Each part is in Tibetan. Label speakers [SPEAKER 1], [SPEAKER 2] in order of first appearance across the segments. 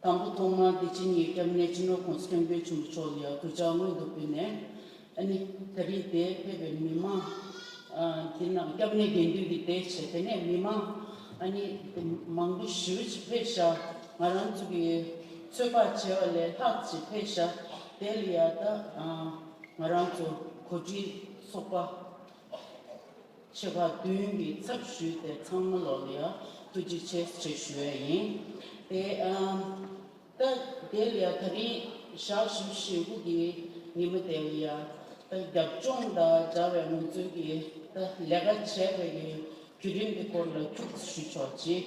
[SPEAKER 1] དང་པོ་ཐོག་མར་བདེ་ཆེན་ཉེ་སྐྱབས་གནས་སྤྱི་ནོར་ཁོངས་སུ་སྟོན་པའི་ཆུ་འབུ་ཕྱོགས་ལ་གུས་ཕྱག་སྔོན་དུ་ཕུལ་ནས། ཨ་ནི། ད་རིས་དེ་ཕེབས་པའི་མི་མང། དེ་རྣམས་སྐྱབས་གནས་དགེ་འདུན་གྱི་སྡེ་བྱས་དེ་ནས་མི་མང། ཨ་ནི། མང་པོ་ཞི་བ་ཅིག་ཕེབས་ཤག་ང་རང་ཚོ་གི་ཚོད་དཔག་བྱས་པ་ལས་ལྷག་ཅིག་ཕེབས་ཤག་དེ་ལ་ཡང་དག་ང་རང་ཚོ་གོ་སྒྲིག་ཚོགས་པ། བྱེད་པ་བདུན་གྱི་ཚབ་ཞུས་ཏེ་ཚང་མ་ལོ་ལིའ་ཐུ་རྗེ་ཆེ་ཞེས་ཞུ་བས་ཡིན། དེ་ལྟ་དེ་ལིའ་ད་རིང་ཞག་བཞི་ཞེ་དགུ་གི་ཉིན་མོ་དེ་ལིའ་ད་རྒྱབ་ལྗོངས་དང་འདྲ་བའི་ངོས་འཛོལ་གྱི་ད་ལས་ཀ་བྱས་པའི་ཡུན་རིང་གི་སྐོར་ལ་ཐུགས་རྗེ་ཞུ་ཆོག་ཅིག།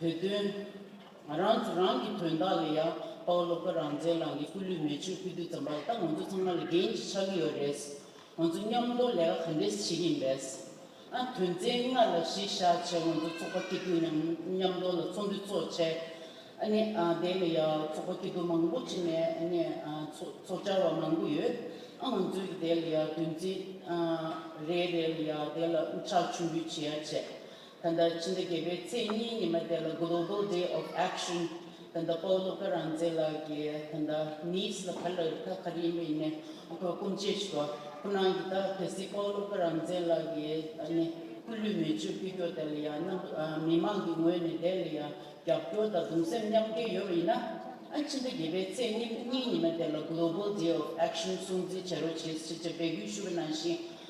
[SPEAKER 1] བོད་དོན། ང་རང་ཚོ་རང་གི་དོན་དག་ལ་ཡ་པའོ་སློབ་དཔོན་རང་བཙན་ལགས་ནས་སྐུ་ལུས་མེ་ཆུར་ཕུལ་དུས་ཙམ་པར་ད་ང་ཚོ་ཚང་མ་ལ་འགན་ཅིག་ཆགས་ཀྱི་ཡོད་རེད། ང་ཚོ་མཉམ་སྡོད་ལས་ཀ་ག་འདྲས་བྱེད་ཀྱིན་རེད། ཨ་དོན་ཚན་ལྔ་ལ་གཞི་བཞག་བྱས་ང་ཚོ་ཚོགས་པ་སྐྱིད་སྡུག་མཉམ་མཉམ་སྡོད་ལ་ཚོགས་འདུ་ཚོགས་བྱས། ཨ་ནི་དེ་ལ་ཡ་ཚོགས་པ་སྐྱིད་སྡུག་མང་པོ་བྱས་ནས་ཨ་ནི་ཚོགས་བཅར་བ་མང་པོ་ཡོད། ཨ་ང་ཚོས་ཀྱི་དེ་ལ་ཡ་དོན་ཚན་རེ་རེ་ལ་ཡ་དེ་ལ་འུ་ཅག་མཆོད་འབུལ་བྱེད་ཡ་བྱས། ད་ལྟ་སྤྱི་ཟླ་བརྒྱད་པའི་ཚེས་གཉིས་ཉི་མ་དེ་ལ Global Day of Action ད་ལྟ་པའོ་ལོ་ཀ་རང་བཙན་ལགས་ཀྱིས་ད་ལྟ Nice ལ་ག་ལ་རི་ཐག་ག་རེ་ཡིན་པ་ཡིན་ནའི་ཁོའི་སྐུ་མཆེད་ཆུ་བ་ཁོ་ནང་གི་ད་གལ་སྲིད་པའོ་ལོ་ཀ་རང་བཙན་ལགས་ཀྱིས་ནི་སྐུ་ལུས་མེ་མཆོད་ཕུལ་སྐྱོར་དེ་ལ་ཡང་རྣམ་མི་མང་གི་ངོས་ནས་དེ་ལ་ཡང་རྒྱབ་སྐྱོར་དང་གདུང་སེམས་མཉམ་སྐྱེ་ཡོད་པ་ཡིན་ན་ཨ་སྤྱི་ཟླ་བརྒྱད་པའི་ཚེས་གཉིས་ཉི་མ་དེ་ལ Global Day of Action སྲུང་བརྩི་བྱེད་རོགས་བྱེད་ཅེས་སྤེལ་སྐུལ་ཞུ་བ་ནང་བཞིན་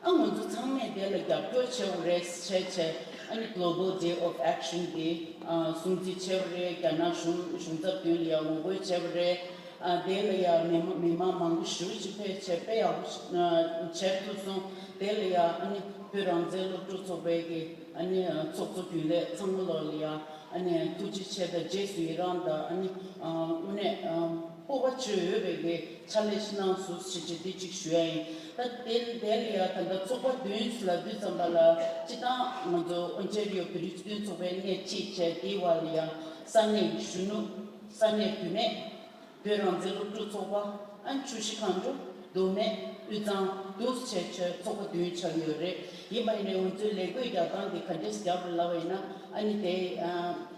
[SPEAKER 1] ཨ་ང་ཚོ་ཚང་མས་དེ་ལ་རྒྱབ་སྐྱོར་བྱས་བོ་རེད་བྱས་བྱས་ཨ་ནི Global Day of Action དེ་སྲུང་བརྩི་བྱས་བོ་རེད་རྒྱ་ནག་གཞུང་གཞུང་ཚབ་དོན་ལ་ཡང་ངོ་རྒོལ་བྱས་བོ་རེད་དེ་ལ་ཡང་མི་མི་དམངས་མང་པོ་ཞི་བ་ཅིག་ཕེབས་བྱས་དཔེ་ཡག་པོ་བྱས་ཐུབ་སོང་དེ་ལ་ཡང་ཨ་ནི་བོད་རང་བཙན་སློབ་ཕྲུག་ཚོགས་པའི་གི་ཨ་ནི་ཚོགས་གཙོ་རྒྱུན་ལས་ཚང་མ་ལོག་ལ་ཡང་ཨ་ནི་ཐུགས་རྗེ་ཆེ་དང་རྗེས་སུ་ཡི་རང་དང་ཨ་ནི་དངོས་གནས་སྤོབས་པ་བཅོལ་ཡོད་པའི་གནས་ཆ་ལས་ཕྱི་ནང་སུ་ཞིག་བྱེད་དུས་གཅིག་ཞུ་ཡ་ཡིན་ད་དེ་འདས་ལ་ཡ་ད་ལྟ་ཚོགས་པ་བདུན་ཞུ་ལ་བདུན་ཙམ་པ་ལ་སྤྱི་བཏང་ང་ཚོ་ཨོ་འཇེར་ཡོ་བེ་རི་སྤྱི་མཐུན་ཚོགས་པའི་གནས་གཅིག་བཅས་དེའི་བར་ལ་ཡང་ས་གནས་ཀྱི་གཞོན་ནུ་ས་གནས་བུད་མེད་བོད་རང་བཙན་སློབ་ཕྲུག་ཚོགས་པ་ཨན་ཆུ་ཤི་ཁང་ཆུ་རྡོ་སྨད་དབུས་གཙང་བསྡུ་བྱས་ཆོད་ཚོགས་པ་བདུན་ཆགས་ཡོད་རེད་ཡིན་པ་ཡིན་ནའི་ང་ཚོའི་ལས་བགོས་རྒྱག་སྟངས་དེ་ག་འདྲས་རྒྱག་དགོས་ལབ་པ་ཡིན་ན་ཨ་ནི་དེ་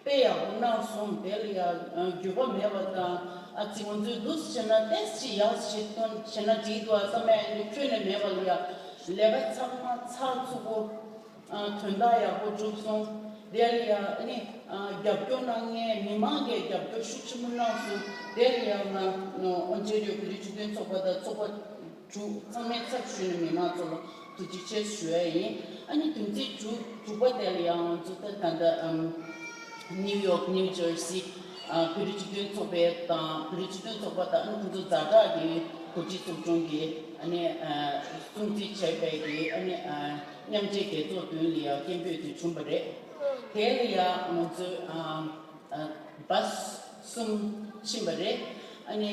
[SPEAKER 1] དཔེ་ཡག་པོ་གནང་སོང་དེར་ཡང་འགྱོད་པ་མེད་པ་དང་ཨ་ཙི་ང་ཚོའི་སྡུག་བྱེད་ན་ཏེས་ཅི་ཡག་བྱེད་སྟོན་བྱེད་ན་བྲིས་འདུག་ཨ་ས་མ་ཡ་ངས་ཁྱོད་ནས་མེད་པ་ལ་ཡ་ལས་ཀ་ཚག་མ་ཚག་བཙུགས་པོ་དོན་དག་ཡག་པོ་བསྒྲུབས་སོང་དེར་ཡང་ཨ་ནི་རྒྱབ་སྐྱོར་གནང་མཁན་མི་མང་གས་རྒྱབ་སྐྱོར་ཤུགས་ཆེན་པོ་གནང་སོང་དེར་ཡང་ང་ཨོན་ཅེ་རེའུ་གུ་རི་ཆུ་ཐོན་ཚོགས་པ་དང་ཚོགས་པ། དྲུག། ཚང་མའི་ཚབ་ཞུས་ནས་མི་དམངས་གཙོ་བོ་དུ་གཅིག་ཆར་ཞུ་བ་ཡིན། ཨ་ནི་དུམ་ཚིགས་དྲུག་དྲུག་པ་དེ་ལ་ཡང་མཛུབ་ཐེལ་ད་ལྟ་ནིའུ་ཡོག New Jersey བོད་རིགས་སྤྱི་མཐུན་ཚོགས་པའི་དང་བོད་རིགས་སྤྱི་མཐུན་ཚོགས་པ་དང་ཨ་ནི་ཁོང་ཚོ་རྫ་དྲག་གི་གོ་སྒྲིག་ཚོགས་ཆུང་གིས་ཨ་ནི་སྲུང་བརྩི་བྱས་པའི་གི་ཨ་ནི་མཉམ་འབྲེལ་རྒྱལ་ཚོགས་བདུན་ལ་ཡང་སྐད་འབོད་དེ་བྱུང་བ་རེད། དེ་ལ་ཡང་ང་ཚོས་བསྒྲགས། གསུམ། ཕྱིན་པ་རེད། ཨ་ནི།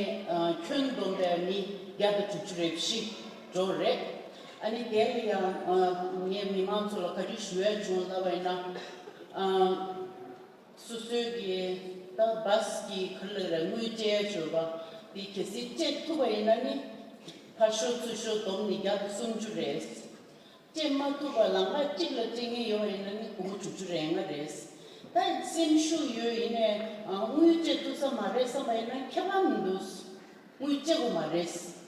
[SPEAKER 1] ཁྱོད་འདོམས་པའི་མི་བརྒྱ་དང་དྲུག་ཅུ་རེ་བཞི་འགྲོ་བ་རེད། ཨ་ནི་དེ་ལ་ཡང། ངས་མི་མང་ཚོ་ལ་ག་དུས་ཞུ་འོས་བྱུང་ལབ་པ་ཡིན་ན། སོ་སོའི་གི་ད་བཟ་གི་གར་ལ་རེ་དངུལ་སྤྲད་ཡ་བྱོས་པ་དེ་གལ་སྲིད་སྤྲད་ཐུབ་པ་ཡིན་ན་ནི། ཕར་ཞོག་ཚུར་ཞོག་འདོམས་ནི་བརྒྱ་དང་སུམ་ཅུ་རེད། སྤྲད་མ་ཐུབ་པ་ལ་ང་གཅིག་ལ་སྤྲད་ངེས་ཡོད་ཡིན་ན་ནི་དགུ་བཅུ་བཅུ་རེ་ལྔ་རེད། ད་སེམས་ཤུགས་ཡོད་ཡིན་ནའི་དངུལ་སྤྲད་ཐུབ་ས་མ་རེད་བསམ་པ་ཡིན་ན་ཁྱད་པར་མི་འདུག་དངུལ་སྤྲད་དགོས་མ་རེད།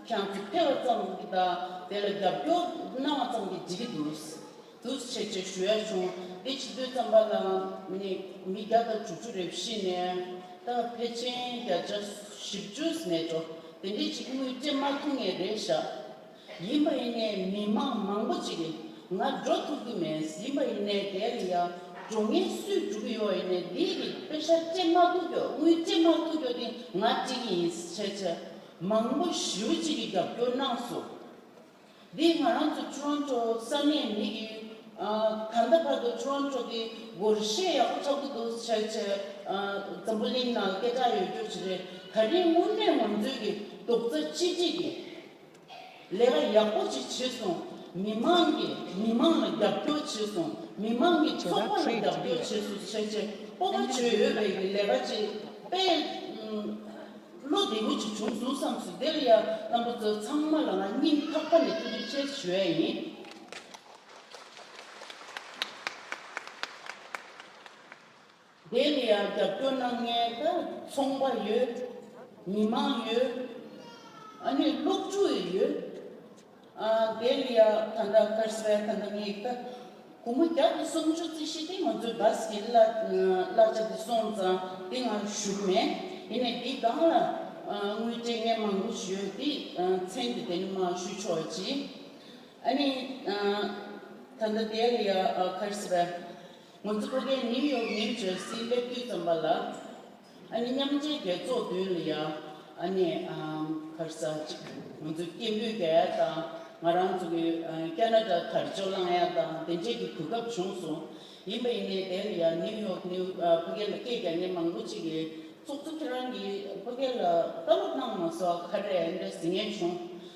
[SPEAKER 1] ཁྱང་ཚིག་འཕེལ་བ་ཙམ་གྱིས་དང་དེ་ལ་རྒྱབ་སྐྱོར་གནང་བ་ཙམ་གྱིས་འགྲིག་གི་འདུག་འདུག་ཆེ་ཆེ་ཞུ་ཡ་བྱུང་འདི་ཕྱི་ཚུལ་ཙམ་པ་ལའང་ནི་མི་བརྒྱ་དང་དྲུག་ཅུ་རེ་བཞི་ནས་ད་ཕལ་ཆེན་བརྒྱ་ཆ་བཞི་བཅུ་མེད་འགྲོ་དེ་འདྲས་ཅིག་དངུལ་སྤྲད་མ་ཐུབ་ངེས་རེད་བཞག་ཡིན་པ་ཡིན་ནའི་མི་དམངས་མང་པོ་ཅིག་ང་འགྲོ་ཐུབ་ཀྱི་མེད་ཡིན་པ་ཡིན་ནའི་དེ་རིང་ཡ་འགྲོ་ངན་སུས་སྒྲུབ་ཀྱི་ཡོད་ཡིན་ནའི་འདིའི་རིགས་དཔེ་ཤ་སྤྲད་མ་ཐུབ་ཀྱོ་དངུལ་སྤྲད་མ་ཐུབ་ཀྱོ་དེ་ང་སྤྲད་ཀྱི་ཡིན་ཆེ་ཆེ་མང་པོ་ཞེའུ་གཅིག་གི་རྒྱབ་སྐྱོར་གནང་སོང་འདི་ང་རང་ཚོ Toronto ས་གནས་མི་གི་ད་ལྟ་བར་དུ Toronto དེ་སྒོར་གཞས་ཡག་པོ་ཆགས་ཀྱི་འདུག་ཆེ་ཆེ་འཛམ་བུ་གླིང་ནང་སྐད་གྲགས་ཡོད་རྒྱུ་ཞིག་རེད་ད་རིང་དངོས་གནས་ང་ཚོའི་གི་རྡོག་རྩ་གཅིག་སྒྲིལ་གྱི། ལས་ཀ་ཡག་པོ་ཅིག་བྱས་སོང་མི་མང་གི་མི་མང་ལ་རྒྱབ་སྐྱོར་བྱས་སོང་མི་མང་གི་ཚོགས་པ་ལ་རྒྱབ་སྐྱོར་བྱས་སོང་བྱས་བྱས་པོ་པོ་བྱོས་ཡོད་རེད་གི་ལས་ཀ་ཅིག་དཔེ་བློ་བདེ་པོ་ཅིག་བྱུང་འདུག་བསམ་སོང་དེ་ལ་ཡ་རྣམ་པ་ཚོ་ཚང་མ་ལ་ང་སྙིང་ཐག་པ་ནས་ཐུགས་རྗེ་ཆེ་ཞུ་ཡ་ཡིན། དེ་ལ་ཡང་རྒྱབ་སྐྱོར་གནང་མཁན་ད་ཚོང་པ་ཡོད། མི་མང་ཡོད། ཨ་ནི་སློབ་ཕྲུག་ཡི་ཡོད། ཨ་དེ་ལ་ཡང་ད་འདྲ་ཁར་གསལ་ད་འདྲ་ངེས་ད་གུང་མོ་རྒྱབ་ཏུ་སོང་ཆུ་ཚིག་ཤི་ཏི་ང་ཚོའི་བཟ་ཟིའི་གླ་ཆ་དེ་སོང་ཙང་དེ་ང་ཞུགས་མེད་ཡིན་ནས་འདི་སྒང་ལ་དངུལ་སྤྲད་མཁན་མང་པོ་ཡོད་དེ་མཚན་དེ་དེ་ནི་མ་ཞུ་ཆོག་ཅིག་ཨ་ནི་ད་འདྲ་དེ་ལ་ཡང་ཁར་གསལ། ངོ་མཚར་ཨོ་རྒྱན་ནིའུ་ཡོག་མིའི་རྗོད་སྲིད་སླེབས་དུས་ཙམ་པ་ལ་ཨ་ནི་མཉམ་འབྲེལ་རྒྱལ་ཚོགས་མདུན་ལ་ཡ་ཨ་ནི་ཕར་ཟ་ཅིག་ང་ཚོའི་སྐད་འབོད་རྒྱག་ཡ་དང་ང་རང་ཚོ་གི་ཀ་ན་ཀྲ་དར་ཅོ་བླངས་ཡ་དང་དེ་འདྲས་ཀྱི་གོ་སྐབས་བྱུང་སོང་ཡིན་པ་ཡིན་ནའི་དེ་ལ་ཡ་ནིའུ་ཡོག་ནིའུ་ཕ་སྐད་ལ་སྐད་རྒྱག་མཁན་མང་པོ་ཅིག་གིས་ཚོགས་གཙོ་ཁྱེད་རང་གིས་ཕ་སྐད་ལ་བཀའ་སློབ་གནང་མ་སོགས་ཁ་རས་འདྲ་ཟེར་ངེས་བྱུང།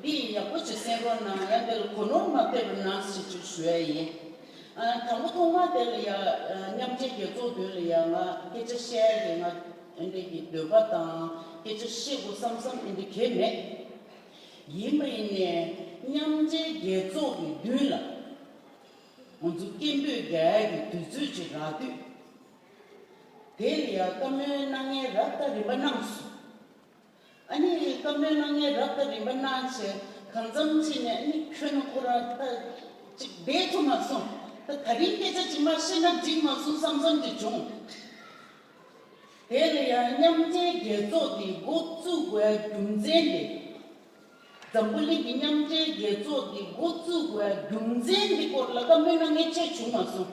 [SPEAKER 1] འདི་ཡི་ཡག་པོ་ཅིག་གསན་རོགས་གནང་ཡ་འདི་ལ་གོ་ནོར་མ་ཕེབས་པར་ནང་ཞིག་ཅིག་ཞུ་ཡ་ཡིན་དང་པོ་ཐོག་མ་དེ་ལ་ཡ་མཉམ་འབྲེལ་རྒྱལ་ཚོགས་དོན་ལ་ཡ་ང་སྐད་ཆ་བཤད་ཡ་གི་ང་འདྲེ་གི་འདོད་པ་དང་སྐད་ཆ་བཤད་དགོས་བསམ་བསམ་ཨི་འདྲེ་གས་མེད་ཡིན་མ་ཡིན་ནས་མཉམ་འབྲེལ་རྒྱལ་ཚོགས་གི་མདུན་ལ་ང་ཚོ་སྐད་འབོད་རྒྱ་ཡ་གི་དུས་ཚོད་ཅིག་རག་དུས་དེ་ལ་ཡ་བཀའ་མོལ་གནང་ཡའི་ར་བཏགས་རིམ་པ་གནང་སོང་ཨ་ནི་བཀའ་མོལ་གནང་མཁན་རབ་དང་རིམ་པ་གནང་ཚོས་གང་འཚམ་ཚིག་ནས་ཨ་ནི་ཁྱོད་རྣམས་ཁོ་རང་ཐ་ཅིག་སྦས་ཐུབ་མ་སོང་ད་ད་རིང་སྐད་ཆ་ཅིག་མ་བཤད་ན་འགྲིག་མ་སོང་བསམ་བསམ་གྱི་བྱུང། དེར་ཡང་མཉམ་འབྲེལ་རྒྱལ་ཚོགས་ཀྱི་འགོ་བཙུགས་དགོས་རྒྱུ་མཚན་འདི། འཛམ་བུ་གླིང་གི་མཉམ་འབྲེལ་རྒྱལ་ཚོགས་ཀྱི་འགོ་བཙུགས་དགོས་རྒྱུ་མཚན་འདི་སྐོར་ལ་བཀའ་མོལ་གནང་མཁན་ཆེར་བྱུང་མ་སོང།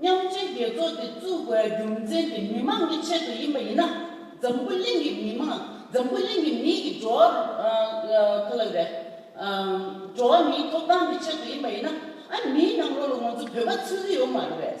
[SPEAKER 1] མཉམ་སྤྱོད་རྒྱལ་ཚོགས་དེ་བཙུགས་པའི་རྒྱུ་མཚན་དེ་མི་མང་གི་ཆེད་དུ་ཡིན་པ་ཡིན་ན། འཛམ་བུ་གླིང་གི་མི་མང་འཛམ་བུ་གླིང་གི་མིའི་གི་འགྲོ་བ་མིའི་ཐོབ་ཐང་གི་ཆེད་དུ་ཡིན་པ་ཡིན་ན། ཨ་མིའི་ནང་ལོགས་ལ་ང་ཚོ་བོད་པ་ཚུད་ཀྱི་ཡོད་མ་རེད།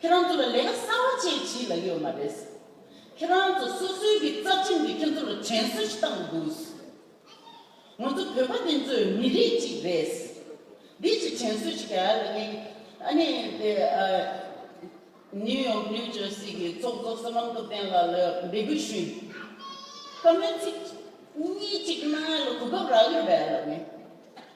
[SPEAKER 1] ཁྱེད་རང་ཚོ་ལ་ལས་ཀ་གསར་བ་བཅས་བྱེད་ལ་ཡོད་མ་རེད། ཁྱེད་རང་ཚོ་སོ་སོའི་གི་རྩ་ཁྲིམས་ཀྱིས་ཁྱེད་ཚོ་ལ་དྲན་གསོ་ཞིག་བཏང་དགོས། ང་ཚོ་བོད་པ་འདི་ཚོ་མི་རིགས་གཅིག་རེད། འདི་ཅི་དྲན་གསོ་ཞིག་ག་ལ་ཡིན། ཨ་ནི་དེ New York New Jersey གི་ཚོགས་གཙོ་བསོད་ནམས་སྟོབས་ལྡན་ལགས་ལ་འབད་སྐུལ་ཞུས། བཀའ་མོལ་ཚིག་གཉིས་གཅིག་གནང་ཡ་ལ་གོ་སྐབས་རག་ཡོད་པ་ཡ་ལ་མེད།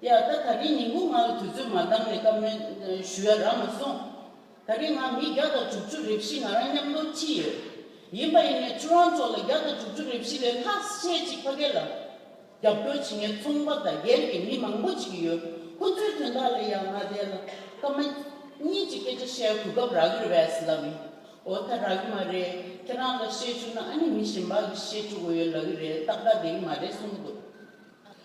[SPEAKER 1] དེ་ཡང་ད་ད་གིན་ཉིན་གུང་ང་ལ་དུས་ཚོད་མ་འདང་ནས་བཀའ་མོལ་ཞུ་ཡ་རག་མ་སོང། ད་གིན་ང་མི་བརྒྱ་དང་དྲུག་ཅུ་རེ་བཞི་ང་རང་མཉམ་ལོ་ཁྲི་ཡོད། ཡིན་པ་ཡིན་ནས་ཁྱོད་རང་ཚོ་ལ་བརྒྱ་དང་དྲུག་ཅུ་རེ་བཞི་ལས་ལྷག་ཤེས་ཅིག་ཕ་གེ་ལ། རྒྱབ་སྐྱོར་བྱེད་མཁན་ཚོང་པ་དང་སྒེར་གྱི་མི་མང་པོ་ཅིག་ཡོད་ཁོ་ཚོའི་དོན་དག་ལ་ཡང་ང་དེ་ལ་སྐར་མ་གཉིས་ཀྱི་སྐད་ཆ་བཤད་གོ་སྐབས་རག་གི་རེད་ལབ་ཡིན། འོ་ད་རག་གི་མ་རེད་ཁྱེད་རང་ལ་བཤད་བཅུག་ན་ཨ་ནི་མི་གཞན་པ་ལ་བཤད་བཅུག་གོ་ཡོད་ལབ་གི་རེད་ཏག་ཏག་བསྡད་གི་མ་རེད་གསུངས་འདུག།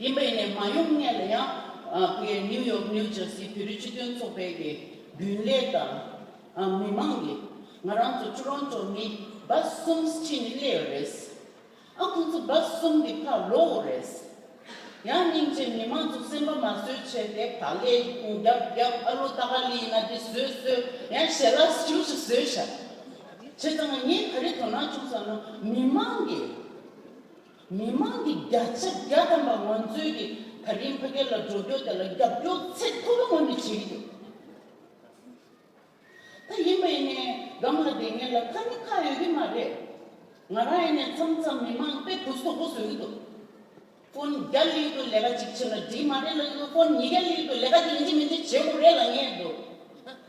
[SPEAKER 1] ཡིན་པ་ཡིན་ནས་མ་ཡོང་ངེས་ལ་ཡང་སྒོས་ནིའུ་ཡོག་ནིའུ་ཇར་སི་བོད་རིགས་སྤྱི་མཐུན་ཚོགས་པའི་གི་རྒྱུན་ལས་དང་མི་མང་གིས་ང་རང་ཚོ་ཆུ་རོང་ཚོ་མི་སྦ་གསུམ་ཕྱིན་ནས་སླེ་བ་རེད། ཨང་ཁོང་ཚོ་སྦ་གསུམ་གི་ཕ་ལོ་བོ་རེད། ཡང་སྙིང་རྗེ་མི་མང་ཚོ་སེམས་པ་མ་བཟོད་བྱས་ཏེ་ཕ་ལས་རྒྱབ་རྒྱབ་ཨ་ལོ་ཏ་ཀ་ལི་ན་འདི་བཟོས་བཟོས་ཡང་ཞལ་ལག་བཞུ་བཞུ་བཟོས་བཞག་བྱས་ཙང་ངས་ག་རེ་དོ་སྣང་བྱུང་བསམ་ན་མི་མང་གིས། མི་མང་གི་བརྒྱ་ཆ་བརྒྱ་ཐམ་པ་ང་ཚོའི་གི་ད་གིན་ཕ་སྐད་ལ་འགྲོ་སྐྱོ་དེ་ལ་རྒྱབ་སྐྱོ་ཚད་མཐོ་པོ་ངོས་ནས་བྱེད་གི་ཡོད། ད་ཡིན་པ་ཡིན་ནའི་སྒང་ལ་དེ་ངེད་ལ་ཁ་མི་ཁ་ཡོད་གི་མ་རེད། ང་རང་ཡིན་ནའི་མཚམས་མཚམས་མི་མང་དཔེ་བུ་སོག་པོ་བཟོས་གི་འདུག་ཕོན་བརྒྱ་གླིག་དུ་ལས་ཀ་གཅིག་བྱེད་ན་འགྲིག་མ་རེད་ལ་ཕོན་ཉིས་བརྒྱ་གླིག་དུ་ལས་ཀ་དེ་འདི་མིན་འདི་བྱེད་དགོས་རེད་ལ་ངེས་འདུག།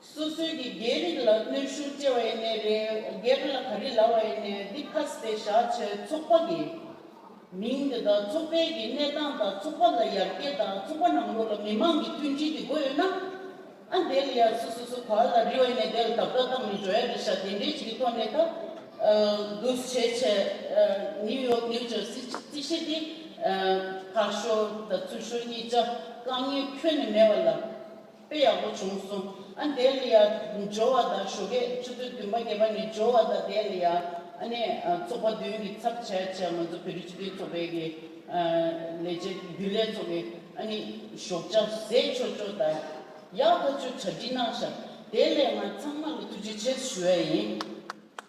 [SPEAKER 1] སོ་སོའི་གི་རྒྱའི་རིགས་ལ་གནོད་ཤུགས་སྐྱེ་བ་ཡིན་ནའི་རེད་རྒྱའི་རིགས་ལ་ག་རིགས་ལ་བ་ཡིན་ནའི་འདི་ཁ་སི་ཏའི་ཞག་ཆའི་ཚོགས་པ་གི་མིང་དེ་དག་ཚོགས་པའི་གི་གནས་སྟངས་དང་ཚོགས་པ་ལ་ཡར་རྒྱས་དང་ཚོགས་པ་ནང་ལོགས་ལ་མི་མང་གི་མཐུན་སྒྲིལ་གི་སྒོ་ཡོད་ན་ཨ་འདས་ལ་ཡར་སུ་སུ་སུ་ག་ལ་རི་བ་ཡིན་ནའི་དེ་ལ་དག་དག་གཏམ་མི་བརྗོད་ཡ་རེད་ཞག་དེ་འདྲའི་ཅིག་གི་ཐོག་ནས་ད་གུས་བྱས་བྱས་ནིའུ་ཡོག་ནིའུ་ཇར་སི་སི་ཤེ་ཏི་ཕག་ཤོ་དང་ཚུར་ཤོ་གཉིས་ཅག་རྐང་གཉིས་ཁྱོན་ནས་མེད་བ་ལ། དཔེ་ཡག་པོ་བྱུང་སོང་ཨ་འདས་ལི་ཡ་སྦྱོར་བ་དང་ཞོ་ཁས་ཆུ་ཚོད་བདུན་པ་བརྒྱད་པ་ནས་སྦྱོར་བ་དང་འདས་ལི་ཡ་ཨ་ནས་ཚོགས་པ་བདུན་གྱི་ཚབ་བྱས་བྱས་ང་ཚོ་བོད་རིགས་སྤྱི་མཐུན་ཚོགས་པའི་གི་ལས་བྱེད་རྒྱུན་ལས་ཚོ་གི་ཨ་ནི་ཞོགས་ཆ་ཟས་ཆོ་ཆོ་དང་ཡག་ཐག་ཆོད་བྱ་བྲིས་གནང་ཞག་དེ་ལས་ང་ཚང་མ་ལ་ཐུགས་རྗེ་ཆེ་ཞུ་ཡ་ཡིན།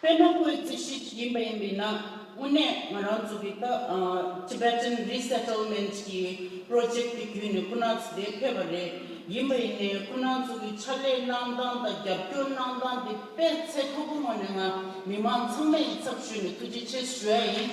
[SPEAKER 1] དཔེར་ན་ཁོའི་རྩིས་གཞི་ཅིག་ཡིན་པ་ཡིན་པས་ན་དངོས་གནས་ང་རང་ཚོ་གིས་ད Tibetan Resettlement གྱི Project དེ་བརྒྱུད་ནས་ཁོ་ན་ཚོ་དེ་ཕེབས་པ་རེད། ཡིན་པ་ཡིན་ནའི་ཁོ་ན་ཚོ་གི་ཕྱག་ལས་གནང་སྟངས་དང་རྒྱབ་སྐྱོར་གནང་སྟངས་དེ་དཔེ་ཚད་ཁོ་བོ་ངོས་ནས་ང་མི་མང་ཚང་མས་ཡི་ཚབ་ཞུས་ནས་ཐུགས་རྗེ་ཆེ་ཞུ་ཡ་ཡིན།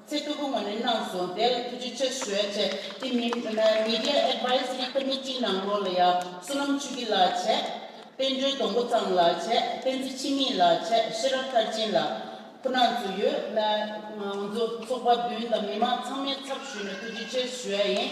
[SPEAKER 1] ཚེ་སྟོད་དགོན་ངོས་ནས་གནང་སོང་དེར་ཐུགས་རྗེ་ཆེ་ཞུ་བའི་ཆེད་དེ་མིན Media Advisory Committee ནང་ལོགས་ལ་ཡང་བསོད་ནམས་ཆོས་སྐྱིད་ལགས་ཆེ། བསྟན་འགྲོའི་སྡོང་པོ་ཚང་ལགས་ཆེ་བསྟན་འཛིན་འཆི་མེད་ལགས་ཆེ་ཤེས་རབ་མཐར་ཕྱིན་ལགས། ཁོ་ནག་ཚོ་ཡོད། ང་ཚོ་ཚོགས་པ་བདུན་དང་མི་མང་ཚང་མའི་ཚབ་ཞུས་ནས་ཐུགས་རྗེ་ཆེ་ཞུ་ཡ་ཡིན།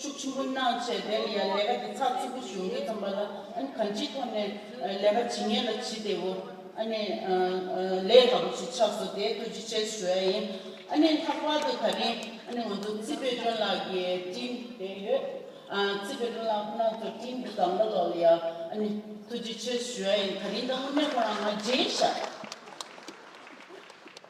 [SPEAKER 1] ཤུགས་ཆེན་པོ་གནང་བྱས་དེ་ནི་ཡང་ལས་ཀ་འདི་ཚགས་ཚུད་པོ་བྱུང་རྒྱུ་ཙམ་པ་ལ་ཨ་ནི་གང་ཅིའི་ཐོག་ནས་ལས་ཀ་ཇི་ངེས་ལ་ཇི་དེ་བོ་ཨ་ནི་ལས་སླ་པོ་ཞིག་ཆགས་སོ་དེའི་ཐུགས་རྗེ་ཆེ་ཞུ་ཡ་ཡིན། ཨ་ནི་ལྷག་པར་དུ་ད་རིང་ཨ་ནི་ང་ཚོ་རྩིས་པའི་དྲུང་ལགས་ཀྱི་བཀྲིན་བདེ་ཡོད། རྩིས་པའི་དྲུང་ལགས་ཁོ་ན་ཚོ་བཀྲིན་བདེ་གང་འདྲ་ལོག་ལ་ཡ་ཨ་ནི་ཐུགས་རྗེ་ཆེ་ཞུ་ཡ་ཡིན་ད་རིང་ད་དངོས་གནས་ཁོ་རང་ང་མཇལ་ཞག།